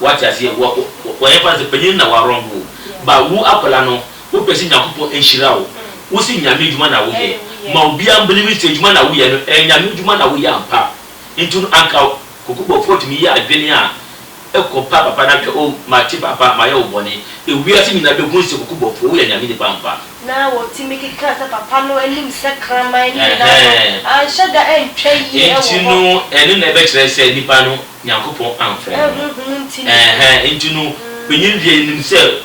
Wate aseɛ? Wɔ, wɔ, wɔyɛ fa no sɛ panyin no na w'awrɔn wo. Ba, wo akwadaa no, wo pɛ sɛ Nyankopɔn nhyira wo. Wo se Nyame adwuma na wo yɛ. Ma obiara mbelieve sɛ adwuma na wo yɛ no, ɛyɛ Nyame adwuma na wo yɛ ampa. Nti no anka Koko Bɔfoɔ tumi yɛ adwene a ɛkɔ pa papa no ahwɛ, oh, mate papa, mayɛ wo bɔne. Ewiase nyinaa behu sɛ Koko Bɔfoɔ, woyɛ Nyame nipa ampa. Na wɔtumi keka sɛ papa no anim sɛ kraman ne nyinaa no, Ɛhɛɛ. anhyɛ da antwa yie wɔ hɔ. Nti no ɛno na ɛbɛkyerɛ sɛ nipa no. Nyankopɔn amfrɛ no no. Ɛɛhɛ, enti no, panyin deɛ nim sɛ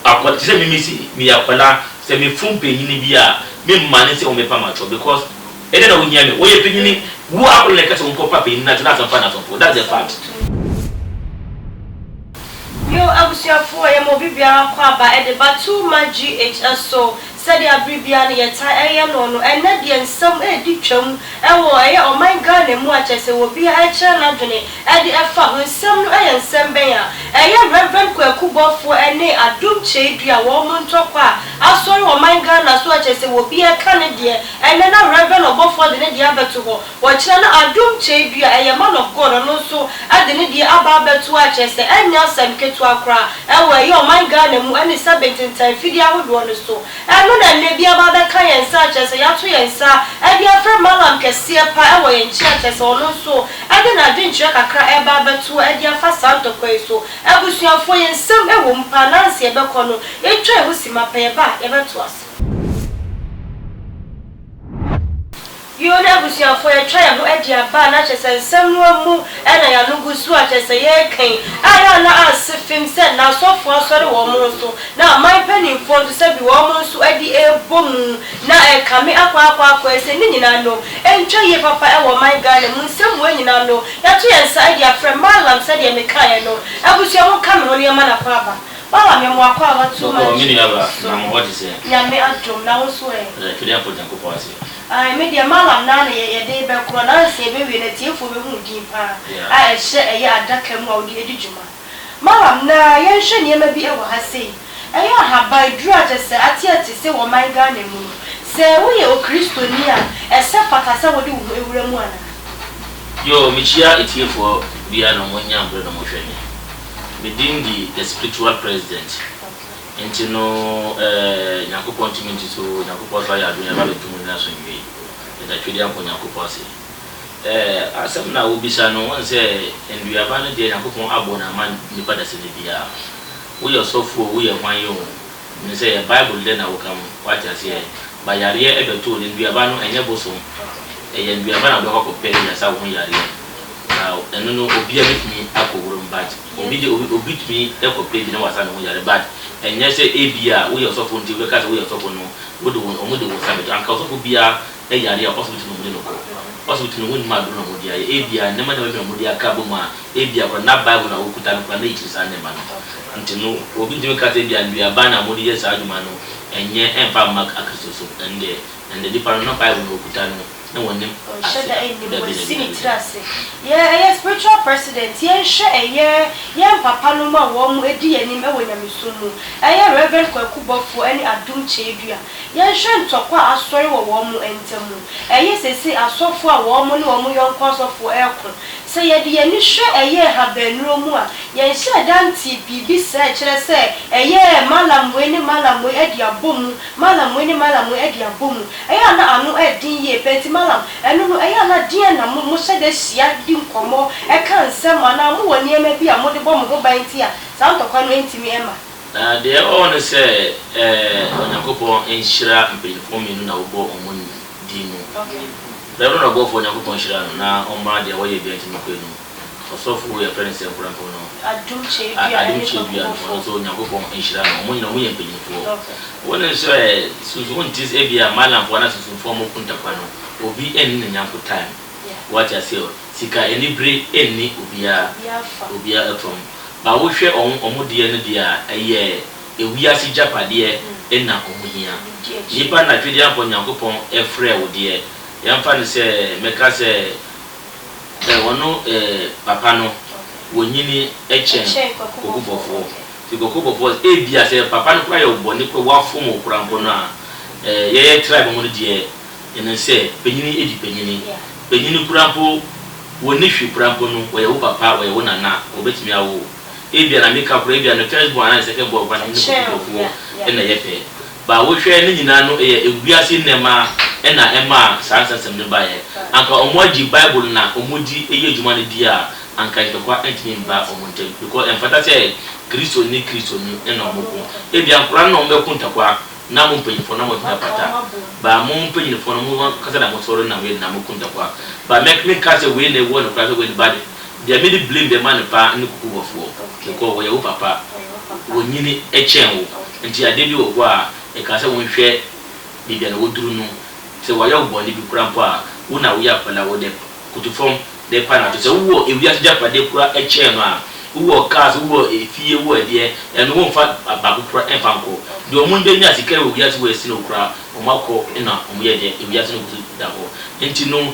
akwa, te sɛ me, me se meyɛ akwadaa, sɛ me fom panyin bi a, me mma ne sɛ wɔmɛpa me atɔ, because ɛdɛn na wohia me, wɔyɛ panyin, wo akwadaa na ɛka sɛ wɔnkɔ pa panyin no atɔ, that's ampa na sopo, that's the fact. Yoo abusuafoɔ yɛma obi biara kɔ aba ɛde ba too much GH ɛso Sɛdeɛ bere biara no yɛtaa yɛ no no, ɛnnɛ deɛ nsɛm redi twam wɔ ɛyɛ ɔman Ghana mu a kyerɛ sɛ obiara rekyerɛ n'adwene de fa ho. Nsɛm no yɛ nsɛm bɛn a ɛyɛ Rev. Kwaku Bɔfoɔ ne Adom Kyeidua wɔn ntɔkwa a asɔre wɔ ɔman Ghana so a kyerɛ sɛ obiara reka ne deɛ. Ɛnnɛ na Rev. Ɔbɔfoɔ de ne deɛ abɛto hɔ. Wɔkyerɛ no Adom Kyɛɛdu a ɛyɛ Man of God ɔno nso de ne deɛ aba abɛto akyerɛ sɛ ɛnyɛ asɛm ketewa koraa ɛwɔ ɛyɛ ɔman Ghana mu ɛne sɛbe ntentan mfidie ahodoɔ no so ɛno na ɛnnɛ bi aba abɛka yɛn nsa akyerɛ sɛ yɛato yɛn nsa de afrɛ Mallam kɛseɛ pa ɛwɔ yɛn nkyɛn akyerɛ sɛ ɔno nso ɛde n'adwenkyerɛ kakra ɛreba abɛto ɛde afa saa ntɔkwa yi so Abusuafoɔ yɛn nsɛm ɛwɔ mu paa nanse yɛbɛkɔ no yɛntwa yɛn ho simma pɛ yɛba a yɛbɛtoa so. Yoo na abusuafoɔ yɛtwa yɛn ho adi aba a na kyerɛ sɛ nsɛm no amu na yɛn ano gu so a kyerɛ sɛ yɛreka yi a na na anse fim sɛ na asɔfoɔ asɔre wɔn nso na aman mpaninfoɔ nso sɛbi wɔn nso adi rebɔ mu na ɛrekame akɔ akɔ akɔ ɛsɛ ne nyinaa no ɛntwa yie papa ɛwɔ ɔman Ghana mu nsɛmua nyinaa no yɛato yɛn nsa adi afrɛ Mallam sɛdeɛ mekaeɛ no abusua mo nka me ho na yɛmma no akɔ aba Mallam yɛ mo akɔ aba too much so Nyame adom na wo nso ɛ. Yɛda Twɛdeɛfoɔ Nyankopɔn ase. Ae me deɛ malam naa na yɛ yɛde bɛkorɔ nansa yɛbɛwie no atiefoɔ bɛhunu din paa a ɛhyɛ ɛyɛ adaka mu a wode adi dwuma malam naa yɛnhwɛ nneɛma bi ɛwɔ ha sei ɛyɛ ahaban duru a kyɛsɛ ateate se wɔ man Ghana mu no sɛ woyɛ okristoni a ɛsɛ fata sɛ wode wo ho ɛwura mu anaa. Yoo mekyia etiefoɔ bia na ɔmo nya mbre na ɔmo hwɛ me me din de the spiritual president Nti no eh, Nyankopɔn tumi nti so Nyankopɔn so ayɛ adwene ɛba bɛto mu nyina so nwie. Yɛda Twɛdeɛ Apɔn Nyankopɔn ase. Eh, asɛm no a wo bisa no, wohu sɛ nnuaba no deɛ Nyankopɔn abɔ no ama nipa dasani biara. Wo yɛ ɔsɔfoɔ o, wo yɛ hwan yi o, menim sɛ yɛ Bible dɛ na wo ka mu, wate aseɛ, ba yareɛ ɛbɛto wo no, nnuaba no ɛnyɛ bosom, ɛyɛ nnuaba na wo bɛkɔ akɔ pɛ ɛyasa wo ho yareɛ. Na ɛno no obiara bɛtumi akɔ wura mu but. Obi de obi obi tumi kɔ page na wasa ne ho yare but ɛnyɛ sɛ ebia woyɛ ɔsɔfo nti wobɛka sɛ woyɛ ɔsɔfo no wode wo wɔn de wo nsa bɛto anka ɔsɔfo biara yare a ɔsibiti na wɔn de no kɔ ɔsibiti no wɔn nim aduro na wɔn de ayɛ ebia nneɛma nneɛma bi na wɔn de aka abom a ebia koraa na bible na wɔkuta no koraa na ɛkyiri saa nneɛma no nti no obi ntumi nka sɛ ebia nnuaba na wɔn de yɛ saa adwuma no ɛnyɛ ɛnfa mma akristosom ɛnde ɛnde nipa no na bible na ɔkuta no. na wɔnim ase da dabi dabi dabi. Spiritual president yɛnhwɛ ɛyɛ yɛn papa nom a wɔn ɛdi yɛn anim ɛwɔ nyamesom mu ɛyɛ Rev Kwaku Bɔfoɔ ɛne Adum Kyeedua yɛnhwɛ ntɔkwa a asɔre wɔ wɔn ntamu ɛyɛ seisei asɔfoɔ a wɔn ne wɔn yɔnko asɔfoɔ ɛɛko sɛ yɛde yɛn ani hwɛ ɛyɛ Habanuro mu a yɛnhyɛɛ da ntee biribi saa ɛkyerɛ sɛ ɛyɛ Mallam wei ne Mallam wei ɛde abɔ mu Mallam wei ne Mallam wei ɛde abɔ mu Ɛyɛ a na ano yɛ den yie paa, enti Mallam, ɛno no, ɛyɛ a na deɛn na mo, mohyɛ da hyia di nkɔmmɔ, ka nsɛm anaa mowɔ nneɛma bi a mode bɔ mo ho ban nti a saa ntɔkwa no ntumi mma? Na deɛ ɔwɔ ne sɛ, ɛɛ, Onyankopɔn nhyira mpanyinfoɔ mmienu na wobɔ wɔn din mu. Reverend ɔbɔfoɔ, Onyankopɔn nhyira no na ɔmma deɛ wɔyɛ biara ntumi nkɔ anim. Ɔsɔfo wei a yɛfrɛ no Sɛnkorɛmfo no, Adom Kyerɛwdua no ne Pakumofo. Ɔno nso Onyankopɔn nhyira no. Wɔn nyinaa wɔyɛ mpanyimfoɔ. Wɔn nso ɛ, susu wonte sɛ ebia Malamfoɔ anaa Susumfoɔ a wɔwɔ Kuntakwa no, obi nni ne nyɛnko time. Woate aseɛ ɔ? Sika anibere nni obiara, obiara fam. But wohwɛ wɔn, wɔn deɛ no deɛ a, ɛyɛ ewiase gyapadeɛ na wɔhia. Nnipa na Twedeɛmpɔ Nyankopɔn frɛɛ wo deɛ, yɛmfa no sɛ, mɛka sɛ, Sɛ wɔno papa no, wɔnyini kyɛn kokobɔfoɔ. Nti kokobɔfoɔ sɛ, Ebia sɛ papa no koraa yɛ wo bɔne koraa, wafom wo koraa mpo no a, yɛyɛ tribe mu no deɛ, yɛnim sɛ panyini di panyini. Panyini koraa mpo, wɔnni hwee koraa mpo no, wɔyɛ wo papa, wɔyɛ wo nana a, wɔbɛtumi awo wo. Ebia na meka koraa, ebia no first born anaa ne second born koraa no ne kokobɔfoɔ na ɛyɛ pɛ. Ba wohwɛ ne nyinaa no eyɛ ewiase nnɛɛma na ɛmaa saa nsɛnsɛm no baeɛ. Anka ɔmo agye bible na ɔmo di eyɛ dwuma no di a, anka ntɔkwa ntumi mba ɔmo ntɛm. Bikɔ ɛnfata sɛ Kristo ne Kristo ni na ɔmo ko. Ebia nkora no na ɔmo bɛko ntɔkwa, na mo mpanyinfoɔ no na mo mpata. Ba mo mpanyinfoɔ no mo ankasa na mo sɔre nam yɛ na mo ko ntɔkwa. Ba mɛk menkaa sɛ wei na ewɔ no koraa sɛ wei no ba de. Deɛ me de blame deɛ ma no paa ne kuku bɔfoɔ because wɔyɛ wo papa wɔ nyini kyɛn wo nti adeɛ bi wɔ hɔ a ɛka sɛ wo nhwɛ baabi a na wɔduru no sɛ wɔayɛ wo bɔne bi koraa mpo a wo na woyɛ akwadaa wo dɛ koto fam de pa no ato sɛ wo wɔ ewiase gyapadeɛ koraa kyɛn no a wo wɔ cars wo wɔ efie wo wɔ ɛdeɛ ɛno wo nfa baako koraa nfa nkɔ deɛ wɔn bɛnya sika wɔ wiase wɔ ɛsene wo koraa wɔn akɔ na wɔn yɛ deɛ ewiase no kɔ so da hɔ nti no.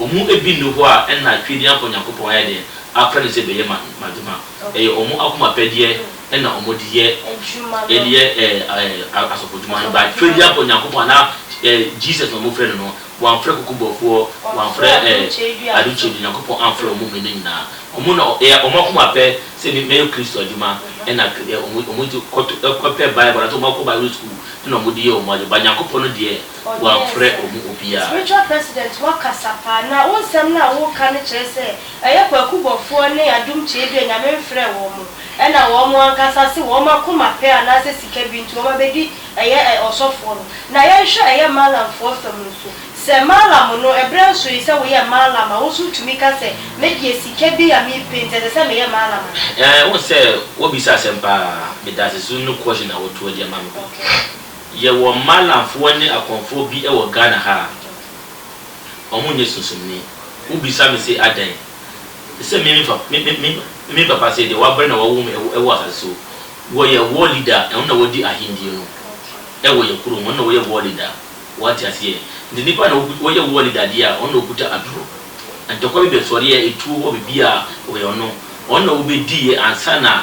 Ɔmo bi nni hɔ a nna Twedi amfa Onyankopɔn ayɛ dɛn afrɛ no sɛ bɛyɛ ma m'adwuma. Ɛyɛ ɔmo akoma pɛdeɛ na ɔmo de yɛ de yɛ ɛɛ asɔfo dwuma no. But Twedi amfa Onyankopɔn anaa ɛɛ Jesus na ɔmo frɛ no no. Wamfrɛ kukubofoɔ, wamfrɛ ɛɛ adekyee no, Onyankopɔn amfrɛ ɔmo mmienu nyinaa. Ɔmo na ɛyɛ ɔmo akoma pɛ sɛ me mɛyɛ Kristo adwuma ɛna ɔmo ɔmo kɔto ɛkɔ pɛ Bible anaasɛ ɔmo akɔ Bible school ɛna ɔmo de yɛ ɔmo ade. But Nyankopɔn no deɛ wɔamfrɛ ɔmu obiara. Spiritual president wakasa paa na wo nsɛm no a woka no kyerɛ sɛ ɛyɛ kwaku bɔfoɔ ne adom kyeedua nyame mfrɛɛ wɔn ɛna wɔn ankasa se wɔn akoma pɛ anaasɛ sika bi nti wɔn abɛdi ɛyɛ ɔsɔfoɔ no na yɛnhwɛ ɛyɛ maalamfoɔ fa mu nso sɛ maalam no ɛberɛ nso yi sɛ woyɛ maalam a wo nso wotumi ka sɛ me deɛ sika bi a me pɛ nti ɛsɛ sɛ meyɛ maalam a. Ɛɛ wo sɛ wabisa asɛm paa medase so no question na wotoa de ama me. Yɛwɔ Malamfoɔ ne Akɔmfoɔ bi wɔ Ghana ha a, wɔn nyɛ sunsumni. Wo bisa me se adɛn? Te sɛ me fa, me, me, me, me papa se deɛ w'abrɛ na w'awo me wɔ wɔ asase so. Wɔ yɛ war leader, wɔn na wɔ'di ahendie no wɔ yɛ kuro mu, wɔn na wɔ'yɛ war leader. W'ate aseɛ? Nti nnipa na wɔ'ku, wɔ'yɛ war leader deɛ a, wɔn na wɔ'kuta aduro. Ntɔkwa bi bɛsɔreɛ, etuo hɔ, biribiara, wɔ'yɛ wɔn. Wɔn na wɔ'bɛdiiɛ ansa na.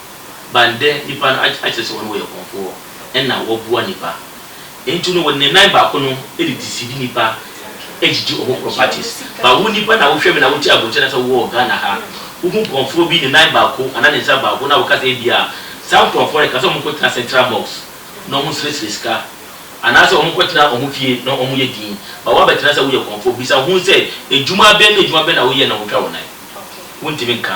ban dɛ nyimpa no akyerɛ sɛ hɔn wɔyɛ kɔmfoɔ na wɔboa nyimpa. Ntsi no, wɔnenam nan baako no de disidi nyimpa gyigye hɔn ho properties. But wo nyimpa na wohwɛ me na wote abrokyir anaa sɛ wowɔ Ghana ha, wohu kɔmfoɔ bi ne nan baako anaa ne nsa baako na woka sɛ ebia saa nkorɔfoɔ no ɛka sɛ wɔnkɔtsena central box na wɔnserɛserɛ sika anaa sɛ wɔnkɔtsena hɔn fie na wɔyɛ dzin but woabɛtsena sɛ woyɛ kɔmfoɔ. Bisa hɔn sɛ edwuma bɛn na edwuma bɛn na woyɛ na wotwa wo nan? Wonntumi nnka.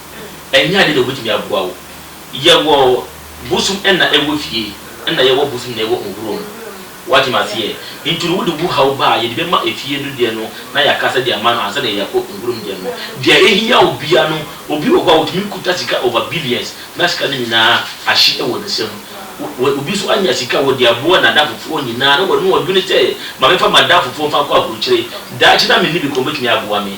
Ɛnyɛ ade na obetumi aboa wo. Yɛwɔ bosom na ɛwɔ fie na yɛwɔ bosom na ɛwɔ nhuro mu. Wate me aseɛ? Nti no wode bu haw ba a, yɛde bɛma efie no deɛ no na yɛaka sɛ de ama no ansa na yɛakɔ nhuro mu deɛ no. Deɛ ɛhia wo biara no, obi wɔ hɔ a otumi kuta sika over billions na sika no nyinaa ahye wɔ ne nsam. Wo, obi nso anya sika, ɔde aboa n'adamfofoɔ nyinaa na ɔno ɔdwene sɛ, ma memfa m'adamfofoɔ mfa nkɔ aburokyire, daakye na menni bi koraa wɔbɛtumi aboa me.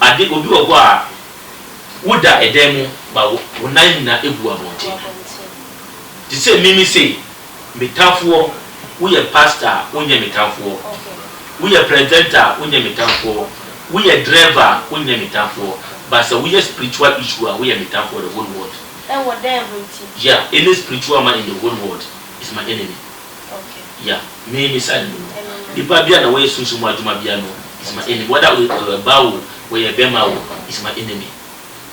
Ade, Obi wɔ hɔ a, woda dan mu ma wo wo nan nyinaa gu abɔnten. Te sɛ Mimi sei, me tamfoɔ, woyɛ pasta a, wonyɛ me tamfoɔ. Woyɛ presenter a, wonyɛ me tamfoɔ. Woyɛ driver a, wonyɛ me tamfoɔ. But sɛ woyɛ spiritual issue a, woyɛ me tamfoɔ the whole world. Ɛwɔ dɛn ho nti? Yeah, any spiritual man in the whole world is my enemy. Yeah, me me side mu no, nipa bia na wɔyɛ sunsum mu adwuma bia no is my enemy, whether ɔyɛ ba o, ɔyɛ bɛma o, is my enemy.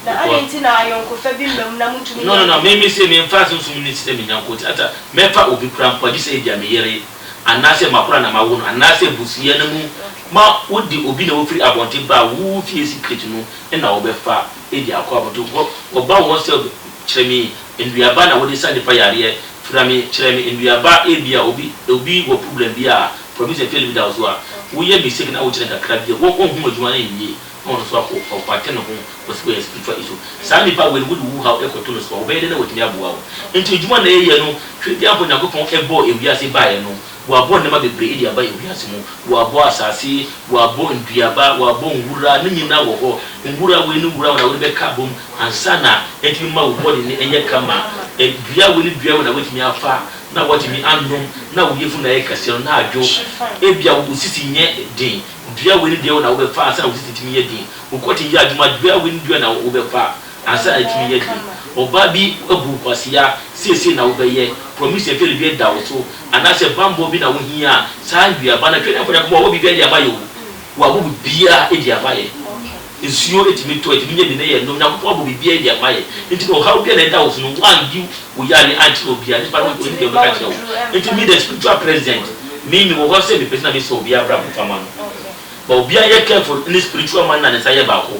Na adɛn nti na ayɔnkofa bi mma mu na montumi nyɛ adwuma? No, no, no, me me se memfa sunsum no sɛ me nyɔnko nti, ata mɛfa obi koraa mpo a, gye sɛ ebia me yere, anaasɛ m'akora na mawo no, anaasɛ abusua no mu ma wode obi na wofiri abɔnten ba a, wo fie secret no na wɔbɛfa de akɔ abɔnten, wɔba wɔn sɛ. Kyerɛ me nnuaba na wode sa nipa yareɛ fira me kyerɛ me nnuaba ebia obi obi wɔ problem bi a promise and fail bi da wo so a woyɛ mistake na wokyerɛ no kakra bi a wo ɔnhu adwuma no nwie na ɔno nso akɔ ɔkwate ne ho kɔsi wɔ yɛ spiritual issue saa nipa wei no wode wo haw ɛkɔto no so a wobɛyɛ dɛn na watumi aboa wo nti adwuma na yɛyɛ no hwɛ deɛ ampa Onyankopɔn ɛbɔɔ ewiase baeɛ no Wɔabɔ nneɛma bebree de aba wiase mu. Wɔabɔ asase, wɔabɔ nnuaba, wɔabɔ nwura, ne nyinaa wɔ hɔ. Nwura wei ne nwura wei na wode bɛka abom ansa na atumi ma wo body no nyɛ kama. Dua wei ne dua wei na woatumi afa na woatumi anom na wo yafunu ayɛ kɛseɛ no na adwo. Ebia wo sisi nyɛ den, dua wei ne dua wei na wobɛfa ansa na wo sisi atumi yɛ den. Wo kɔten yɛ adwuma, dua wei ne dua wei na wobɛfa. Ansa atumi yɛ den. Ɔbaa bi abu wo kwasea, seesei na wobɛyɛ. Promise a fairy bi ada wo so, anaasɛ bammɔ bi na wohia a, saa nnuaba no, Atwerɛdeɛ Mfɔnyankopɔn wɔ biribiara de ama yɛ o. Wabɔ biribiara de ama yɛ. Nsuo ɛtumi tɔ, ɛtumi nya bi na yɛnom. Nyankopɔn abɔ biribiara de ama yɛ. Nti no ɔhaw biara na ɛda wo so no, woandi wo yareɛ ankyerɛ obiara, nipa no ɔnim deɛ ɔbɛka akyerɛ wo. Nti me the spiritual president, me mewɔ hɔ sɛ mepɛ sɛ na mesesa obiara abrabɔ fa ma no. But obiara nyɛ careful ne spiritual man na ne nsa yɛ baako.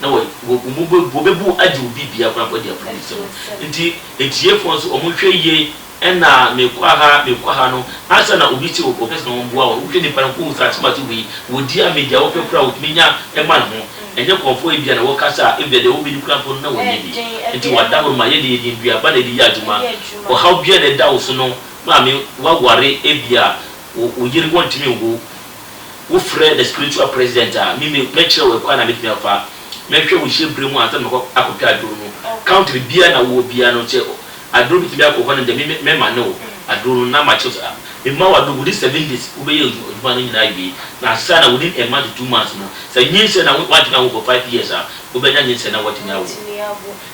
na wɔ, wɔ, wɔbɛ, wɔbɛbu agye obi biara koraa mpo adi apolisifo no. Nti, atiefo nso, wɔnhwɛ yie, ɛna mekɔ aha, mekɔ aha no, ansa na obi se ɔpɛ sɛ wɔboa wɔn no, wohwɛ nipa no, wohu sɛ atemase wei, ɔdi ame, deɛ ɔpɛ koraa a ɔtumi nya ma ne ho. Ɛnyɛ nkorɔfoɔ ebia na wɔkasa a, ebia deɛ wɔbɛdi koraa mpo no, na wɔnyɛ bi. Nti wɔada hɔ no, ma yɛde yɛn nnuaba na yɛde yɛ adwuma. Ɔhaw biara na ɛda wo so no, maame, woaware, ebia wo, wo yere, wɔntumi nwo wo, Wofrɛ the spiritual president a, me me mɛkyerɛ wo ɛkwan a mɛtumi afa mɛhwɛ wo nhyɛ berɛ mu ansa na makɔ akɔtwa aduro no. Country biara na wowɔ biara no sɛ aduro bi tumi akɔ hɔ no deɛ me me mɛmane wo aduro no na makyerɛ wo sɛ mema wo aduro within seven days wobɛyɛ adwuma adwuma no nyinaa awie na ansa na within a month to two months no sɛ nyinsɛn na wo woantumi anwo for five years a wobɛnya nyinsɛn na woatumi awo.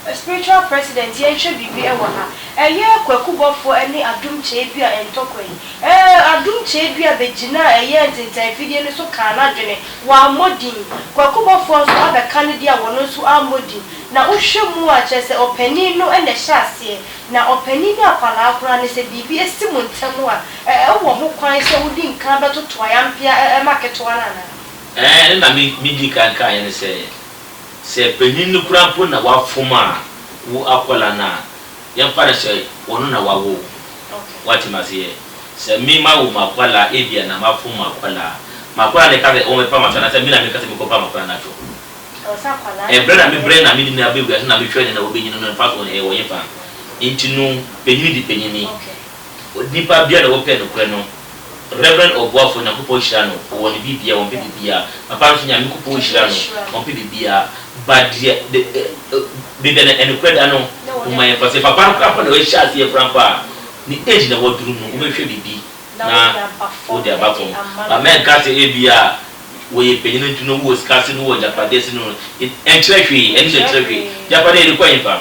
A spiritual president yɛnhwɛ biribi ɛwɔ ha ɛyɛ kwaku bɔfoɔ ɛne adom kyeedua ntɔkwa yi ɛɛ adom kyeedua bɛgyinaa ɛyɛ ntentɛnfidie no so kaa nadwene wammɔ din kwaku bɔfoɔ nso abɛka ne deɛ a wɔno nso ammɔ din na wohwɛ mu a kyerɛ sɛ ɔpanin no ɛna ɛhyɛ aseɛ na ɔpanin ne akwadaa koraa no sɛ biribi ɛsi mo ntɛm a ɛɛ wowɔ ho kwan sɛ wodi nkan bɛtoto ayampea ɛɛ ma ketewa no anaa. Ɛɛ ɛna me me diikan kaeɛ ne sɛ. Sɛ panyin no koraa mpo na wafom a, wo akwadaa no a, yɛmfa no sɛ ɔno na wawo wo. Woate me aseɛ? Sɛ me mawo m'akwadaa ebia na mafom m'akwadaa a, m'akwadaa na ɛka sɛ ɔmmɛpa m'atwerɛ anaasɛ me na mɛka sɛ menkɔpa m'akwadaa no atwerɛ? Ɛberɛ na me brɛ na mede no aba wiase na mehwɛ no na wabenyin no, mfasoɔ no, ɛwɔ hefa? Enti no, panyin di panyin ni. Onipa biara na ɔpɛ nokorɛ no Rev Ɔboafo Nyankopɔn hyira no wɔ ne biribiara ɔmpɛ biribiara Papa nso Nyamekopɔn hyira no ɔmpɛ biribiara but deɛ Bebia na ɛnokorɛ da no Momma yɛmfa sɛ papa no koraa mpo na wahyɛ aseɛ koraa mpo a ne age na waduru no wobɛhwɛ biribi na wode aba fam But mɛnka sɛ ebia wɔyɛ panyini nti no wowɔ sika ase no wowɔ agyapadeɛ ase no ɛnkyerɛ hwee ɛno deɛ ɛnkyerɛ hwee Agyapadeɛ yɛde kɔ ɛhefa?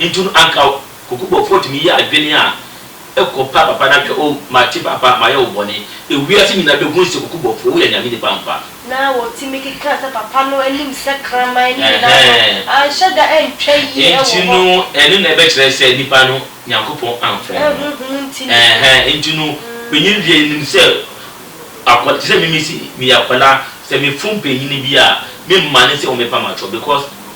Ntu no anka wo. Kokobɔfoɔ tumi yɛ adwene a ɛkɔ pa papa na hwɛ o mate papa mayɛ wo bɔne. Ewiase nyinaa bɛhunu sɛ kokobɔfoɔ woyɛ Nyame nipa ampa. Na wɔtumi keka sɛ papa no anim sɛ kraman ne nyinaa no anhyɛ da antwa yie wɔ hɔ. Nti no ɛno na ɛbɛkyerɛ sɛ nipa no Nyankopɔn amfrɛ no no. Honhom nti no. Ɛɛhɛɛ nti no panyin deɛ nim sɛ akwa te sɛ mimi se meyɛ akwadaa sɛ mefom panyin bi a memmane sɛ wɔn bɛpam atorɔ because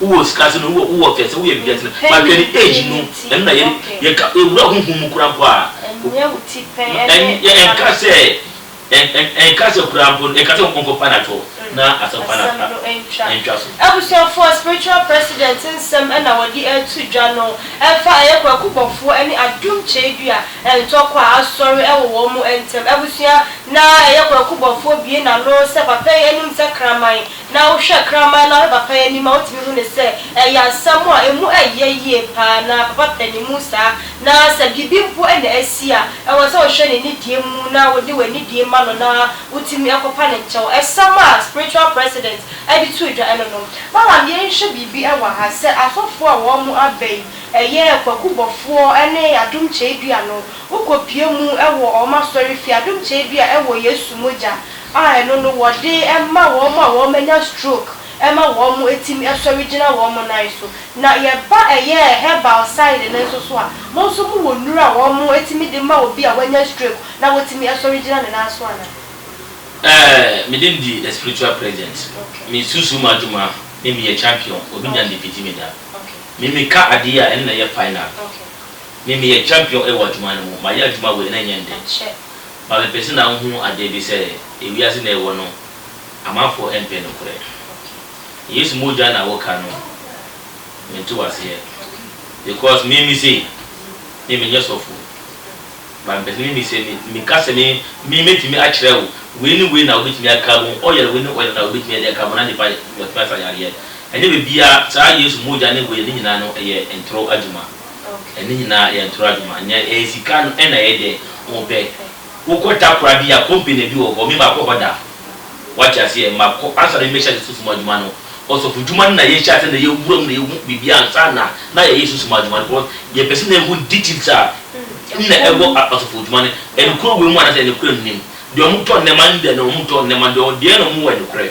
Wowɔ sika sen me, wowɔ wowɔ fɛ sen, woyɛ biribiara sen me, but hwɛ ne age no, ɛno na yɛde yɛka ewura honhom mu koraa mpo a, ɛn ɛnka sɛ ɛn ɛn ɛnka sɛ koraa mpo no, ɛnka sɛ ɔnkɔfa no atɔ na asɛmpa no a ɛntwa so. Abusuafoɔ, Spiritual President nsɛm na wɔde reto dwa no ɛfa ɛyɛ Kwaku Bɔfoɔ ɛne Adum Kyeredua ntɔkwa a asɔre ɛwɔ wɔn mo ntɛm. Abusua, na ɛyɛ Kwaku Bɔfoɔ bue n'ano sɛ papa yi anim sɛ kraman. Na wohwɛ kraman no ara papa yi anim a, wotumi hu no sɛ ɛyɛ asɛm a emu yɛ yie paa na papa pɛ ne mu saa. Na sɛ biribi mpo na asi a, ɛwɔ sɛ wohwɛ ne nidie mu na wode w'anidie ma no na wotumi kɔpa ne nkyɛw. Ɛsɛm a Spiritual President de too dwa no no. Malam yɛnhwɛ biribi wɔ ha, sɛ asɔfoɔ a wɔn aba yi yɛ Kwaku Bɔfoɔ ne Adom Kyeedua no, wokɔpue mu wɔ wɔn asɔrefie, Adom Kyeedua wɔ Yesu mogya a ɛno no wɔde ma wɔn a wɔanya stroke ma wɔtumi sɔre gyina wɔn nan so. Na yɛba ɛyɛ herbal side no nso so a, mo nso mowɔ nnuru a wɔtumi de ma obi a wanya stroke na watumi asɔre gyina ne nan so anaa? Ɛɛ, me din de The Spiritual Presence. Me susu mu adwuma ne meyɛ champion, obi nya ne mfiti me da. Me meka adeɛ a ɛno na ɛyɛ final. Me meyɛ champion wɔ adwuma no mu, mayɛ adwuma wei na ɛnyɛ nnɛ. Ma me pɛ sɛ na wohu adeɛ bi sɛ ewiase na ɛwɔ no amanfoɔ ɛmpɛ nokorɛ Yesu mogya na woka no mente waseɛ because me me sei me menyɛ sɔfo but mepɛ sɛ me me sɛ me ka sɛ me me mɛtumi akyerɛ wo wei ne wei na wobɛtumi aka ho oil wei ne oil na wobɛtumi ɛde aka ho na nipa watumi asa yareɛ ɛnyɛ bɛbiaa saa Yesu mogya ne wei ne nyinaa no ɛyɛ ntoro adwuma. Okay. Ɛno nyinaa yɛ ntoro adwuma. Nea ɛyɛ sika no ɛna ɛyɛ dɛ wo pɛ. Wokɔ takora bi a, company bi wɔ hɔ, me makɔ hɔ da. Wate aseɛ? Makɔ, ansa na mɛhyɛ ase susumu adwuma no, ɔsɔfodwuma no na yɛhyɛ ase na yɛwura mu na yɛhu biribiara ansa na na yɛyɛ susumu adwuma no because yɛpɛ sɛ na yɛhu details a ɛna ɛwɔ ɔsɔfodwuma no, ɛnokorɛ wɔ mu anaasɛ ɛnokorɛ nnim. Deɛ wɔtɔ nnɛma ne deɛ na wɔntɔ nnɛma no, deɛ deɛn na wɔwɔ ɛnokorɛ?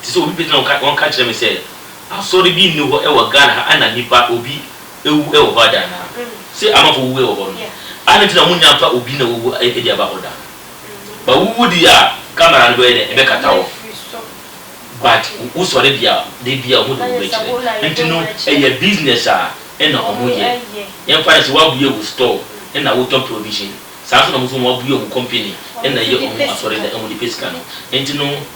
Te sɛ obi bɛgyina hɔ wɔka kyerɛ me sɛ asɔre bi nni hɔ wɔ Ghana ha a na nipa, obi, awu wɔ hɔ ada anaa? Sɛ amanfoɔ wuwu wɔ hɔ no, adɛn nti na monya mfa obi na wawu de aba hɔ da? But wowu deɛ a, camera no bɛyɛ dɛn? Ɛbɛkata wo. But wosɔre deɛ a, da biara wɔde wo bɛkyerɛ. Nti no, ɛyɛ business a ɛna wɔyɛ. Yɛmfa no sɛ woabue wo store ɛna wotɔn provision, saa ara nso na wɔn nso wɔabue wɔn company ɛna ɛyɛ wɔn asɔredan a wɔde pɛ sika no. Nti no.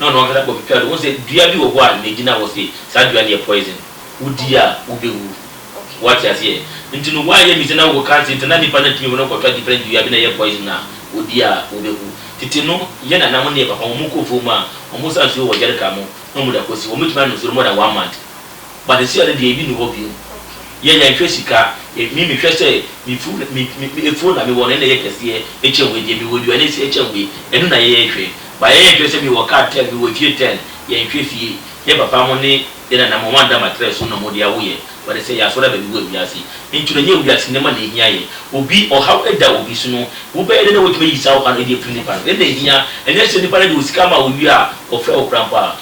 na ɔno ankasa kɔ twitwaa do, ohun sɛ dua bi wɔ hɔ a na egyina hɔ se saa dua no yɛ poison, wodi a wobɛwu. Woate aseɛ? Nti no woayɛ mmiɛnsa na wowɔ cancer nti na nnipa no atumi wɔ no kɔtwa different dua bi na ɛyɛ poison a wodi a wobɛwu. Tete no yɛn nana mo ne yɛn papa mo, wɔkɔ afuom a wɔsa nsuo wɔ jerrycan mu na wɔde akɔsi hɔ, wɔbɛtumi anom nsuo no more than one month. Badesia no deɛ ebi nni hɔ bio. Yɛn yɛnhwɛ sika. Me mehwɛ sɛ me fun me me phone na mewɔ no ɛna ɛyɛ kɛseɛ ɛkyɛn wei deɛ mewɔ aduane ɛsɛ ɛkyɛn wei ɛno na yɛhwɛ but yɛnhwɛ sɛ mewɔ car ten mewɔ fie ten yɛnhwɛ fie yɛn papa mo ne yɛn nana mo wɔada matrɛ so na wɔde awo yɛn wɔde sɛ yɛasɔre aba bi wɔ wiase nti no ɛnyɛ wiase nneɛma na ɛhia yɛn obi ɔhaw ɛda obi so no wobɛyɛ dɛ na watumi ayi saa ɔhaw no ɛde afiri nipa no ɛna ɛhia ɛnyɛ sɛ nipa no de osika ama a owie a ɔfrɛ wo koraa mpo a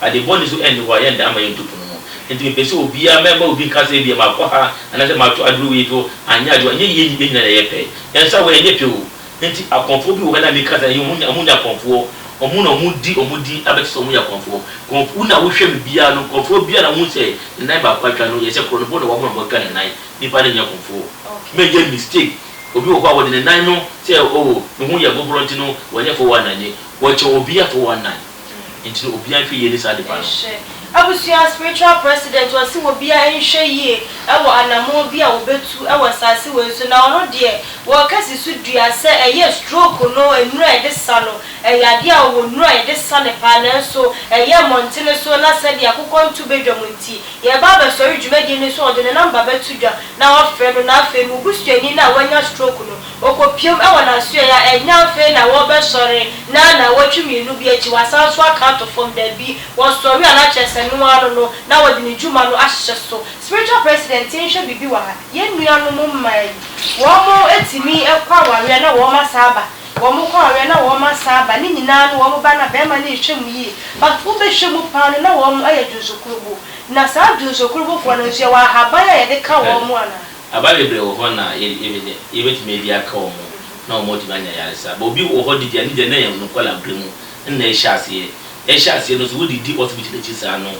Ade bɔne nso nni hɔ a yɛntaa mma yɛnto pono mu. Enti mepɛ sɛ obiara, mɛmma obi nka sɛ ebia makɔ ha anaasɛ mato aduru wei so anyɛ adwuma. Ɛnyɛ yɛn yɛn nyinaa na ɛyɛ pɛ. Yɛn nsa wɔ, ɛnyɛ pɛ o. Enti akɔmfoɔ bi wɔ hɔ, ɛnna meka sɛ ɛyɛ wɔn, wɔnyɛ akɔmfoɔ. Wɔn na wɔdi wɔn din abɛkyerɛ sɛ wɔyɛ akɔmfoɔ. Kɔmf, wo na wohwɛ me biara no, kɔmfoɔ biara na wohu sɛ ne nan baako atwa no, yɛ sɛ korɔ no bo na wabɔ na watwa ne nan. Nnipa no nyɛ akɔmfoɔ. Mɛnyɛ mistake. Obi wɔ hɔ a, wɔde ne nan no sɛ, oh, ne ho yɛ boboro nti no, wɔnyɛ 419. Wɔkyɛ obiara 419. Nti no obiaa nhwɛ yie ne saa nipa no. Nhwɛ. Abusua spiritual president ɔse wobiaa nhwɛ yie wɔ anamɔn bi a wobetu wɔ saase wei so na ɔno deɛ wɔka si so dua sɛ ɛyɛ stroke no nnuro a yɛde sa no ɛyɛ adeɛ a ɔwɔ nnuro a yɛde sa no paa nanso ɛyɛ mmɔntene so na sɛdeɛ akokɔ nto badwam nti yɛreba abɛsɔre dwumadie no so ɔde ne number bɛto dwa na wafrɛ no na afei mo busuani no a wanya stroke no Okopiam wɔ n'asoɛe a ɛnyɛ afei na wɔbɛsɔre na naawɔtwe mmienu bi akyi wɔasan nso aka ato fam, dabi, wɔsɔre a na kyerɛ sɛ ɛno ara no no na wɔde ne dwuma no ahyehyɛ so. Spiritual President nhwɛ biribi wɔ ha. Yɛn nuanom mmaa yi, wɔtumi kɔ awareɛ na wɔasan aba, wɔkɔ awareɛ na wɔasan aba, ne nyinaa no wɔba no a barima no nhwɛ mu yie, but wobɛhwɛ mu paa no na wɔyɛ dwonsokorobo, na saa dwonsokorobofoɔ no nso yɛwɔ ahaban a yɛde ka wɔn anaa? Aba bebree wɔ hɔ na yɛbɛnya, yɛbɛtumi adi aka wɔn ho na wɔn atumi anya ayaresa. But obi wɔ hɔ de deɛ ne deɛ na ɛyɛ no kɔla berɛ mu na ɛhyɛ aseɛ. Ɛhyɛ aseɛ no nso wode di hospital akyi saa no,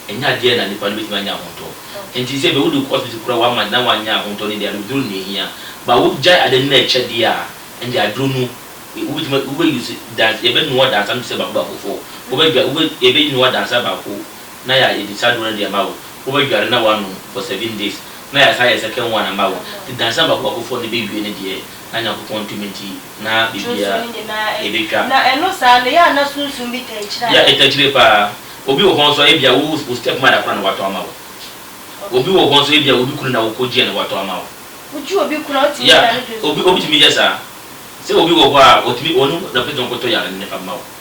ɛnyɛ adeɛ na nipa no bɛtumi anya ahotɔ. Nti sɛ bia wode kɔ hospital koraa wama na wanyɛ ahotɔ no deɛ adododuro na ɛhia. But wogyae ade no na ɛkyɛ deɛ a, ɛnde aduro no wobɛtumi, wobɛ use, yɛbɛnoa dansa no te sɛ baako baako foɔ. Wobɛdwa, wobɛ, yɛbɛnoa dansa baako na ya yɛ disa aduro no de ama wo, wo bɛ dware na wa nom for seven days na ya sa yɛ second one ama wo, ti dansa baako baako foɔ no bɛ wie ne deɛ na Nyankopɔn ntumi nti na bibia ɛbɛ twa. Ya ɛta kyire paa, obi wɔ hɔ nso a ɛbia wo wo step mother koraa na wa tɔ ama wo, obi wɔ hɔ nso ɛbia obi kunu na wo kɔ gyeɛ na wa tɔ ama wo, ya obi obi tumi yɛ saa, sɛ obi wɔ hɔ a ɔtumi ɔno na ɔpɛ sɛ ɔkɔ tɔ yare no na fa ma wo.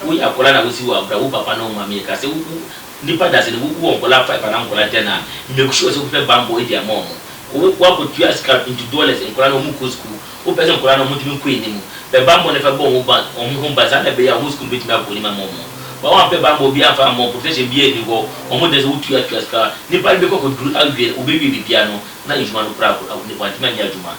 Woyɛ akɔla na wosiw abura wo papa na wo maame yɛ ka sɛ wo wo nipa dase no wo wɔ nkɔla five anaa nkɔla ten a make sure sɛ wo hwɛ banbɔ edi ama ɔmo wo wo akɔ tua sika into dollars nkɔla no ɔmo kɔ sukuu wo pɛ sɛ nkɔla no ɔmo ntumi nkɔ enimu pɛ banbɔ no fɛ bɔ ɔmo ban ɔmo ho ban saa na ɛbɛyɛ a ɔmo sukuu no betumi akɔ enim ama ɔmo ba wa mpɛ banbɔ obi anfa ama ɔmo protection biara nni hɔ ɔmo deɛ sɛ wo tua tua sika nipa no bɛkɔ akɔ duru awie no wo bɛ wie biribiara no na edwuma no koraa wantumi anyɛ adwuma.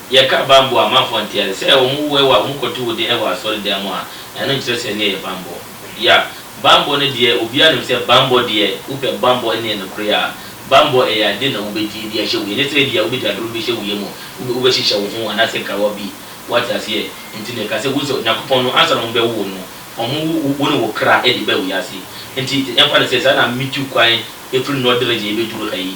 Yɛka bammɔ a, amanfoɔ nte ase. Sɛ wɔwo wo a, wɔkɔto wo de wɔ asɔredan mu a, ɛno nkyerɛ sɛ ɛno yɛ bammɔ. Ya, bammɔ no deɛ, obiara nim sɛ bammɔ deɛ, wopɛ bammɔ ne nokorɛ a, bammɔ ɛyɛ adeɛ na wobɛdi de ahyɛ wo yam. Ɛnyɛ sɛ ebia wobɛdi aduro no bi ahyɛ wo yam, wobɛhyehyɛ wo ho anaasɛ nkawa bi. Woate aseɛ? Enti na ɛka sɛ, wohu sɛ Onyankopɔn no, ansa na wɔbɛwo wo no, wɔwo wo ne wo kra de baa wiase. Enti yɛmfa no sɛ saa na metu kwan firi Nordregen bɛduru ha yi.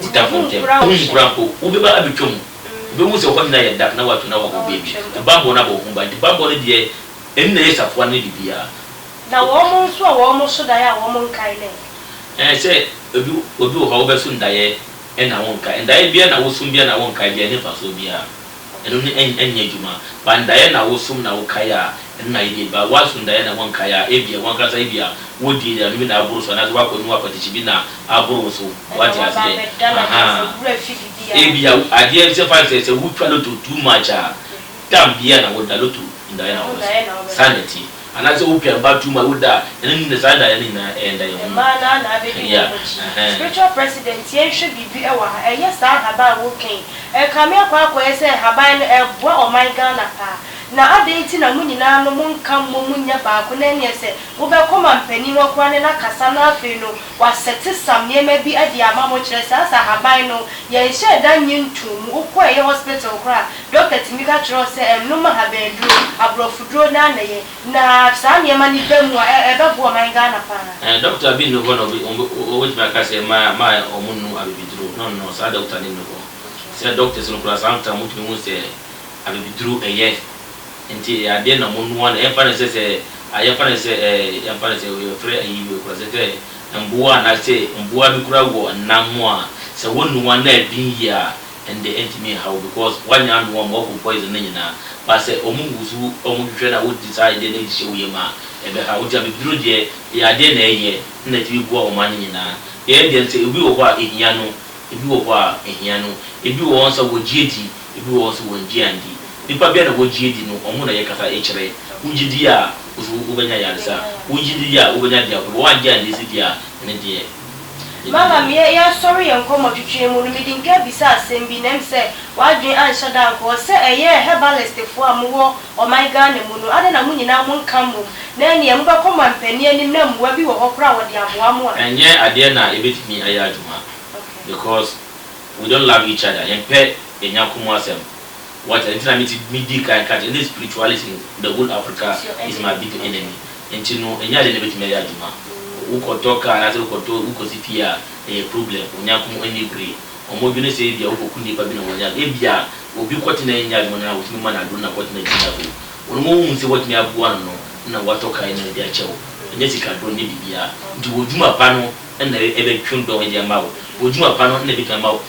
wo tamfo ntam, worenkura mpo, wobɛba abɛtwa mu, wobɛhu sɛ hɔ nyinaa yɛ dark na wɔato no awɔ hɔ baabi, na bammɔ no abɔ wo ho ban, nti bammɔ no deɛ, ɛno na ɛyɛ safoa no ne biribiara. Na wɔn nso a wɔso daeɛ a wɔnkae no ɛ? Ɛɛ, sɛ obi, obi wɔ hɔ a wobɛso no daeɛ na wonkae, daeɛ biara na woso biara na wonkae biara, ɛnni mfasoɔ biara. Ɛno no ɛn ɛnyɛ adwuma. Ba ndaeɛ na wo som na wo kae a, ɛno na yɛde ba. Wo aso ndaeɛ na wonkae a, ebia wo ankasa ebia wo di aduane bi na aboro so anaasɛ woakɔ nom akwatikyi bi na aboro wo so. Wate aseɛ? Ahaa. Ebia wo adeɛ sɛ fa no sɛ sɛ wotwa lotto too much a, tam biara na woda, lotto ndaeɛ na wobɛso. Saa na ɛteɛ. Anaasɛ wo pia ba tum a wo da a ɛno nyina saa daeɛ no nyinaa ɛyɛ daeɛ hunu. Mmaa no ana abɛdi wɔn akyi. Spiritual president yɛn hwɛ biribi ɛwɔ ha ɛnyɛ saa nhaban a wo ka yi ɛkame akɔ akɔyɛ sɛ nhaban no ɛboa ɔman Ghana paa na adɛn nti na mo nyinaa no mo nka mmom mo nyɛ baako na ɛneɛ sɛ mo bɛkɔ manpanin hɔ koraa ne no akasa na afei no wa set some nneɛma bi ɛde ama mo kyerɛ sɛ asa haban no yɛn hyɛɛ da nye ntoo mu wo kɔ ɛyɛ hospital koraa a Dɔkta tumi ka kyerɛ wo sɛ nnom ahabanduro, aborɔfoduro na nnɛyɛ na saa nneɛma no ba mu a ɛbɛboa ɔman Ghana pa ara. Dɔkta bi nni hɔ na ɔbɛtumi aka sɛ ma wɔnnom abibiduro, no no, saa dɔkta no nni hɔ. Sɛ doctors no koraa saa ntam wɔtumi hu sɛ abibiduro yɛ nti ɛyɛ adeɛ na wɔnoa no, yɛmfa no sɛ sɛ yɛmfa no sɛ yɛmfa no sɛ yɛfrɛ ayi wei koraa sɛ sɛ mmoa anaasɛ mmoa bi koraa wɔ nam a sɛ wɔnoa na ɛden yie a ɛnde ɛntumi nha wo because woanya anoa wɔn wɔakum poison no nyinaa but sɛ wɔn nguso wɔn hwehwɛ na wode saa adeɛ no hyɛ wo yam a ɛbɛha wo nti abɛduru deɛ ɛyɛ adeɛ na ɛyɛ na ɛtumi boa wɔn ano nyinaa yɛn deɛ nso ɛbi wɔ hɔ a ɛhia no ɛbi wɔ hɔ a ɛhia no ɛbi wɔ hɔ nso a wɔgye adi ɛbi wɔ hɔ nso wɔngye anndi nnipa bi a na wɔgye adi no wɔn na yɛkasa ɛkyerɛ wogye di a wo nso wobɛnya ayaresa wogye di a wobɛnya deɛ ahorɔ wɔangye anndi nso deɛ a ɛno deɛ. Malam, yɛ yɛasɔre yɛn nkɔmmɔtwetweɛ mu no, mede mpia bisaa asɛm bi, na ɛm sɛ w'adwene anhyɛ da ankɔ hɔ, sɛ ɛyɛɛ herbalistfoɔ a mowɔ ɔman Ghana mu no, adɛn na mo nyinaa mo nka mmom, na ɛnneɛ mobɛkɔ mo ampanin anim na mmoa bi wɔ hɔ koraa a wɔde aboa mo a. Ɛnyɛ adeɛ na ɛbɛtumi ayɛ adwuma, because we don't love each other, yɛmpɛ yɛn yɔnko mu asɛm, what, ɛno nti na mete, medii kan ka kyerɛ, ɛnna spirituality no, the whole Africa is my biggest enemy. Nti no ɛnyɛ adeɛ na ɛbɛtumi ayɛ adwuma. Wokɔtɔ car anaasɛ wokɔtɔ wokɔsi fie a ɛyɛ problem. Onyankopɔn nni bere. Wɔdwene sɛ ebia wokɔku nnipa bi na wɔnyɛ adwuma. Ebia obi kɔtena a ɛnyɛ adwuma no a wotumi ma no aduro na kɔtena gyina hɔ. Wɔn a wohu sɛ woatumi aboa no no na wɔatɔ car no de akyɛ wo. Ɛnyɛ sika dɔn ɛnyɛ biribiara. Nti w'adwuma pa no na ɛbɛtwe dɔn de ama wo. W'adwuma pa no na ɛbɛtumi ama wo.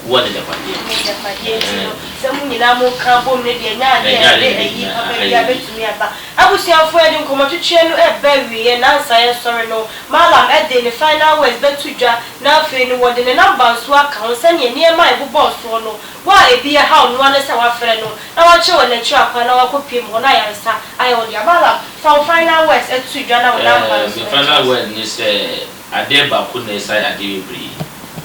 Wowɔ n'agyapadeɛ. N'agyapadeɛ nti no, sɛ mo nyinaa moka bom no deɛ, ɛnyɛ adeɛ a ɛde ayi papa biara bɛtumi aba. Abusuafoɔ, yɛde nkɔmmɔtwetweɛ no reba awieɛ, nnansa yɛnsɔre no, Mallam de ne final words bɛto dwa, na afei no wɔde ne number nso aka ho sɛdeɛ nneɛma a ɛbobɔɔ soɔ no, wo a ɛbi yɛ haw noa ne sɛ wafrɛ no na wakyerɛ wo n'akyiri akwan na wakɔ piem hɔ na ayaresa ayɛ wo dea. Mallam, fa wo final words to dwa na wo number nso to aseɛ. Ɛɛ, me final word ne sɛ. Adeɛ baako na ɛsan adeɛ bebree.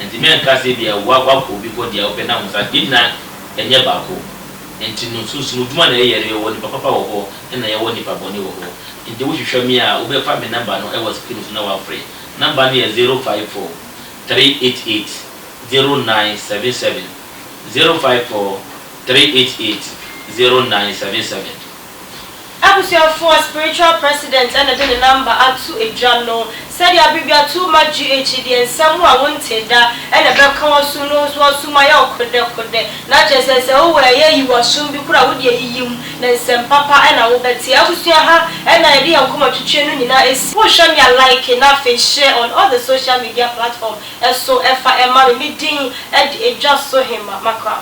Nti mɛnka sɛ ebia woakɔ obi hɔ deɛ wopɛ na wonsa yɛn nyinaa ɛnyɛ baako. Nti no sunsum adwuma na yɛyɛ no yɛwɔ nipa papa wɔ hɔ ɛna yɛwɔ nipa bɔne wɔ hɔ. Nti wohwehwɛ me a wobɛfa me number no ɛwɔ screen so na wafrɛ. Number no yɛ zero five four three eight eight zero nine seven seven zero five four three eight eight zero nine seven seven. Abusuafo a spiritual president na de ne number ato dwa no, sɛdeɛ abbreviature ma GH deɛ nsɛm a wontee da na ɛbɛka w'asom no ho so w'asom ayɛ wo kodɛkodɛ na kyerɛ sɛ sɛ wowɔ ɛyɛ yi w'asom bi koraa a wode ayiyi mu na nsɛm papa na wobɛte abusua ha na yɛde yɛn kɔma twitwi no nyinaa ɛsi Wohwɛ me a like na afei share on all the social media platform so ɛfa ɛma me me din de dwa so hemma Macram.